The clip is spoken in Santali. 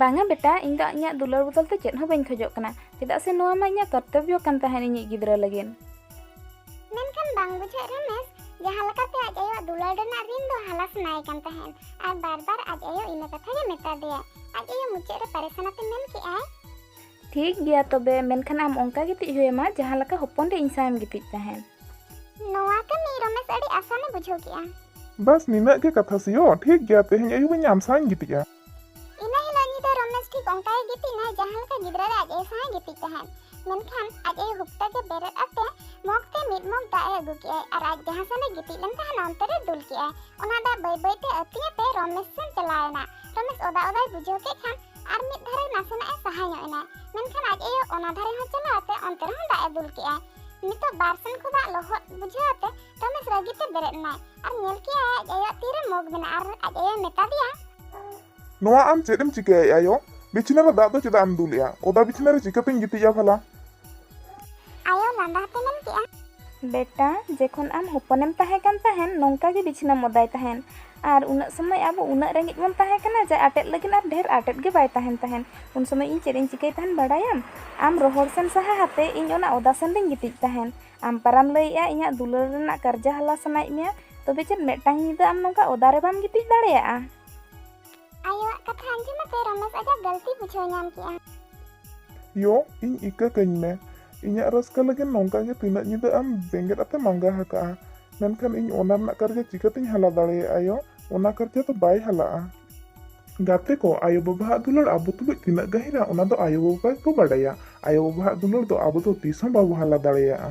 ᱵᱟᱝᱟ ᱵᱮᱴᱟ ᱤᱧ ᱫᱚ ᱤᱧᱟᱹᱜ ᱫᱩᱞᱟᱹᱲ ᱵᱚᱫᱚᱞ ᱛᱮ ᱪᱮᱫ ᱦᱚᱸ ᱵᱟᱹᱧ ᱠᱷᱚᱡᱚᱜ ᱠᱟᱱᱟ ᱪᱮᱫᱟᱜ ᱥᱮ ᱱᱚᱣᱟ ᱢᱟ ᱤᱧᱟᱹᱜ ᱠᱚᱨᱛᱚᱵᱽᱵᱚ ᱠᱟᱱ ᱛᱟᱦᱮᱸᱱ ᱤᱧᱤᱡ ᱜᱤᱫᱽᱨᱟᱹ ᱞᱟᱹᱜᱤᱫ ᱢᱮᱱᱠᱷᱟᱱ ᱵᱟᱝ ᱵᱩᱡᱷᱟᱹᱜ ᱨᱮᱢᱮᱥ ᱡᱟᱦᱟᱸ ᱞᱮᱠᱟᱛᱮ ᱟᱡ ᱟᱭᱳᱣᱟᱜ ᱫᱩᱞᱟᱹᱲ ᱨᱮᱱᱟᱜ ᱨᱤᱱ ᱫᱚ ᱦᱟᱞᱟ ᱥᱟᱱᱟᱭᱮ ᱠᱟᱱ ᱛᱟᱦᱮᱸᱱ ᱟᱨ ᱵᱟᱨ ᱵᱟᱨ ᱟᱡ ᱟᱭᱳ ᱤᱱᱟᱹ ᱠᱟᱛᱷᱟ ᱜᱮ ᱢᱮᱛᱟ ᱫᱮᱭᱟᱭ ᱟᱡ ᱟᱭᱳ ᱢᱩᱪᱟᱹᱫ ᱨᱮ ᱯᱟᱨᱮᱥᱟᱱᱟᱛᱮ ᱢᱮᱱ ᱠᱮᱜᱼᱟᱭ ᱴᱷᱤᱠ ᱜᱮᱭᱟ ᱛᱚᱵᱮ ᱢᱮᱱᱠᱷᱟᱱ ᱟᱢ ᱚᱱᱠᱟ ᱜᱤᱛᱤᱡ ᱦᱩᱭᱟᱢᱟ ᱡᱟᱦᱟᱸ ᱞᱮᱠᱟ ᱦᱚᱯᱚᱱ ᱨᱮ ᱤᱧ ᱥᱟᱶᱮᱢ ᱜᱤᱛᱤᱡ ᱛᱟᱦᱮᱱ ᱱᱚᱣᱟ ᱠᱟᱹᱢᱤ ᱨᱚᱢᱮᱥ ᱟᱹᱰᱤ ᱟᱥᱟᱱᱮ ᱵᱩᱡᱷᱟᱹᱣ ᱠᱮᱜᱼᱟ ᱵᱟᱥ ᱱᱤᱱᱟᱹᱜ ᱜᱮ ᱠᱟᱛᱷᱟ ᱥᱤᱭᱳ ᱴᱷᱤᱠ ᱜᱮᱭᱟ ᱛᱮᱦᱮᱧ ᱟᱹᱭᱩᱵ ᱤᱧ ᱟᱢ ᱥᱟᱶᱤᱧ ᱜᱤᱛᱤᱡᱼᱟ ᱤᱱᱟᱹ ᱦᱤᱞᱳᱜ ᱧᱤᱫᱟᱹ ᱨᱚᱢᱮᱥ ᱴᱷᱤᱠ ᱚᱱᱠᱟ ᱜᱮ ᱜᱤᱛᱤᱡ ᱮᱱᱟᱭ ᱡᱟᱦᱟᱸ ᱞᱮᱠᱟ ᱜᱤᱫᱽᱨᱟᱹ ᱨᱮ ᱟᱡ ᱟᱭᱳ ᱥᱟᱶᱮ ᱜᱤᱛᱤᱡ ᱛᱟᱦᱮᱱ ᱢᱮᱱᱠᱷᱟᱱ ᱟᱡ ᱟᱭᱳ ᱦᱩᱠᱛᱟ ᱜᱮ ᱵᱮᱨᱮᱫ ᱟᱛᱮ ᱢᱚᱜᱽ ᱛᱮ ᱢᱤᱫ ᱢᱚᱜᱽ ᱫᱟᱜ ᱮ ᱟᱹᱜᱩ ᱠᱮᱜᱼᱟᱭ ᱟᱨ ᱟᱡ ᱡᱟᱦᱟᱸ ᱥᱮᱱ ᱮ ᱜᱤᱛᱤᱡ ᱞᱮᱱ ᱛᱟᱦᱮᱱᱟ ᱚᱱᱛᱮ ᱨᱮ ᱫᱩᱞ ᱠᱮᱜᱼᱟᱭ ᱚᱱᱟ ᱫᱟᱜ ᱵᱟᱹᱭ ᱵᱟᱹᱭ ᱛᱮ ᱟᱹᱛᱤᱧ ᱟᱛᱮ ᱨᱚᱢᱮᱥ ᱥᱮᱱ ᱪᱟᱞᱟᱣ ᱮᱱᱟ ᱨᱚᱢᱮᱥ ᱚᱫᱟ ᱚᱫᱟᱭ ᱵᱩᱡᱷᱟᱹᱣ ᱠᱮᱫ ᱠᱷᱟᱱ ᱟᱨ ᱢᱤᱫ ᱫᱷᱟᱨᱮ ᱱᱟᱥᱮᱱᱟᱜ ᱮ ᱥᱟᱦᱟ ᱧᱚᱜ ᱮᱱᱟ ᱢᱮᱱᱠᱷᱟᱱ ᱟᱡ ᱟᱭᱳ ᱚᱱᱟ ᱫᱷᱟᱨᱮ ᱦᱚᱸ ᱪᱟᱞᱟᱣ ᱟᱛᱮ ᱚᱱᱛᱮ ᱨᱮᱦᱚᱸ ᱫᱟᱜ ᱮ ᱫᱩᱞ ᱠᱮᱜᱼᱟ ᱱᱤᱛᱚᱜ ᱵᱟᱨ ᱥᱮᱱ ᱠᱷᱚᱱ ᱫᱟᱜ ᱞᱚᱦᱚᱫ ᱵᱩᱡᱷᱟᱹᱣ ᱟᱛᱮ ᱨᱚᱢᱮᱥ ᱨᱟᱹᱜᱤ ᱛᱮ ᱵᱮᱨᱮᱫ ᱮᱱᱟᱭ ᱟᱨ ᱧᱮᱞ ᱠᱮᱜᱼᱟᱭ ᱟᱡ ᱟᱭᱳᱣᱟᱜ ᱛᱤ ᱨᱮ ᱢᱚᱜᱽ ᱢᱮᱱᱟᱜᱼᱟ ᱟᱨ ᱟᱡ ᱟᱭᱳᱭ ᱢᱮᱛᱟ ᱫᱮᱭᱟ ᱱᱚᱣᱟ ᱟᱢ ᱪᱮᱫ ᱮᱢ ᱪᱤᱠᱟᱹᱭᱮᱫᱼᱟ ᱭᱳ ᱵᱤᱪᱷᱱᱟᱹ ᱨᱮ ᱫᱟᱜ ᱫᱚ ᱪᱮᱫᱟᱜ ᱮᱢ ᱫᱩᱞᱮᱜᱼᱟ ᱚᱫᱟ ᱵᱤᱪᱷᱱᱟᱹ ᱨᱮ ᱪᱤᱠᱟᱹᱛᱮᱧ ᱜᱤᱛᱤᱡᱼᱟ ᱵᱷᱟᱞᱟ ᱟᱭᱳ ᱞᱟᱸᱫᱟ ᱦᱟᱛᱮ ᱢᱮᱱ ᱠᱮᱫᱼᱟ᱾ ᱵᱮᱴᱟ ᱡᱮᱠᱷᱚᱱ ᱟᱢ ᱦᱚᱯᱚᱱᱮᱢ ᱛᱟᱦᱮᱸ ᱠᱟᱱ ᱛᱟᱦᱮᱸᱱ ᱱᱚᱝᱠᱟ ᱜᱮ ᱵᱤᱪᱷᱱᱟᱹᱢ ᱚᱫᱟᱭ ᱛᱟᱦᱮᱸᱱ ᱟᱨ ᱩᱱᱟᱹᱜ ᱥᱚᱢᱚᱭ ᱟᱵᱚ ᱩᱱᱟᱹᱜ ᱨᱮᱸᱜᱮᱡ ᱵᱚᱱ ᱛᱟᱦᱮᱸ ᱠᱟᱱᱟ ᱡᱟᱭ ᱟᱴᱮᱫ ᱞᱟᱹᱜᱤᱫ ᱟᱨ ᱰᱷᱮᱨ ᱟᱴᱮᱫ ᱜᱮ ᱵᱟᱭ ᱛᱟᱦᱮᱸᱱ ᱛᱟᱦᱮᱸᱱ ᱩᱱ ᱥᱚᱢᱚᱭ ᱤᱧ ᱪᱮᱫ ᱤᱧ ᱪᱤᱠᱟᱹᱭ ᱛᱟᱦᱮᱸᱱ ᱵᱟᱰᱟᱭᱟᱢ ᱟᱢ ᱨᱚᱦᱚᱲ ᱥᱮᱱ ᱥᱟᱦᱟ ᱦᱟᱛᱮ ᱤᱧ ᱚᱱᱟ ᱚᱫᱟ ᱥᱮᱱ ᱨᱤᱧ ᱜᱤᱛᱤᱡ ᱛᱟᱦᱮᱸᱱ ᱟᱢ ᱯᱟᱨᱟᱢ ᱞᱟᱹᱭᱮᱫᱼᱟ ᱤᱧᱟᱜ ᱫᱩᱞᱟᱹᱲ ᱨᱮᱱᱟᱜ ᱠᱟᱨᱡᱟ ᱦᱟᱞᱟ ᱥᱟᱱᱟᱭᱮᱫ ᱢᱮᱭᱟ ᱛᱚᱵᱮ ᱪᱮᱫ ᱢᱮᱫᱴᱟᱝ ᱧᱤᱫᱟᱹ ᱟᱢ ᱱᱚᱝᱠᱟ ᱚᱫᱟ ᱨᱮ ᱵᱟᱢ ᱜᱤᱛᱤᱡ ᱫᱟᱲᱮᱭᱟᱜᱼᱟ᱾ ᱟᱭᱳᱣᱟᱜ ᱠᱟᱛᱷᱟ ᱟᱸᱡᱚᱢ ᱟᱛᱮ ᱨᱚᱢᱮᱥ ᱟᱡᱟᱜ ᱜᱟᱹᱞᱛᱤ ᱵᱩᱡᱷᱟᱹᱣ ᱧᱟᱢ ᱠᱮᱫᱼᱟ᱾ ᱭᱳ, ᱤᱧ ᱤᱠᱟᱹ ᱠᱟᱹᱧ ᱢᱮ᱾ ᱤᱧᱟᱜ ᱨᱟᱹᱥᱠᱟᱹ ᱞᱟᱹᱜᱤᱫ ᱱᱚᱝᱠᱟ ᱜᱮ ᱛᱤᱱᱟᱹᱜ ᱧᱤᱫᱟᱹ ᱟᱢ ᱵᱮᱸᱜᱮᱫ ᱟᱛᱮᱢ ᱟᱸᱜᱟ ᱟᱠᱟᱫᱼᱟ᱾ ᱢᱮᱱᱠᱷᱟᱱ ᱤᱧ ᱚᱱᱟ ᱨᱮᱱᱟᱜ ᱠᱟᱨᱡᱟ ᱪᱤᱠᱟᱹᱛᱮᱧ ᱦᱟᱞᱟ ᱫᱟᱲᱮᱭᱟᱜᱼᱟ ᱭᱳ? ᱚᱱᱟ ᱠᱟᱨᱡᱟ ᱫᱚ ᱵᱟᱭ ᱦᱟᱞᱟᱜᱼᱟ᱾ ᱜᱟᱛᱮ ᱠᱚ, ᱟᱭᱳᱼᱵᱟᱵᱟ ᱟᱜ ᱫᱩᱞᱟᱹᱲ ᱟᱵᱚ ᱛᱩᱞᱩᱡ ᱛᱤᱱᱟᱹᱜ ᱜᱟᱹᱦᱤᱨᱟ ᱚᱱᱟ ᱫᱚ ᱟᱭᱳᱼᱵᱟᱵᱟ ᱜᱮᱠᱚ ᱵᱟᱰᱟᱭᱟ᱾ ᱟᱭᱳᱼᱵᱟᱵᱟ ᱟᱜ ᱫᱩᱞᱟᱹᱲ ᱫᱚ ᱟᱵᱚ ᱫᱚ ᱛᱤᱥ ᱦᱚᱸ ᱵᱟᱵᱚ ᱦᱟᱞᱟ ᱫᱟᱲᱮᱭᱟᱜᱼᱟ᱾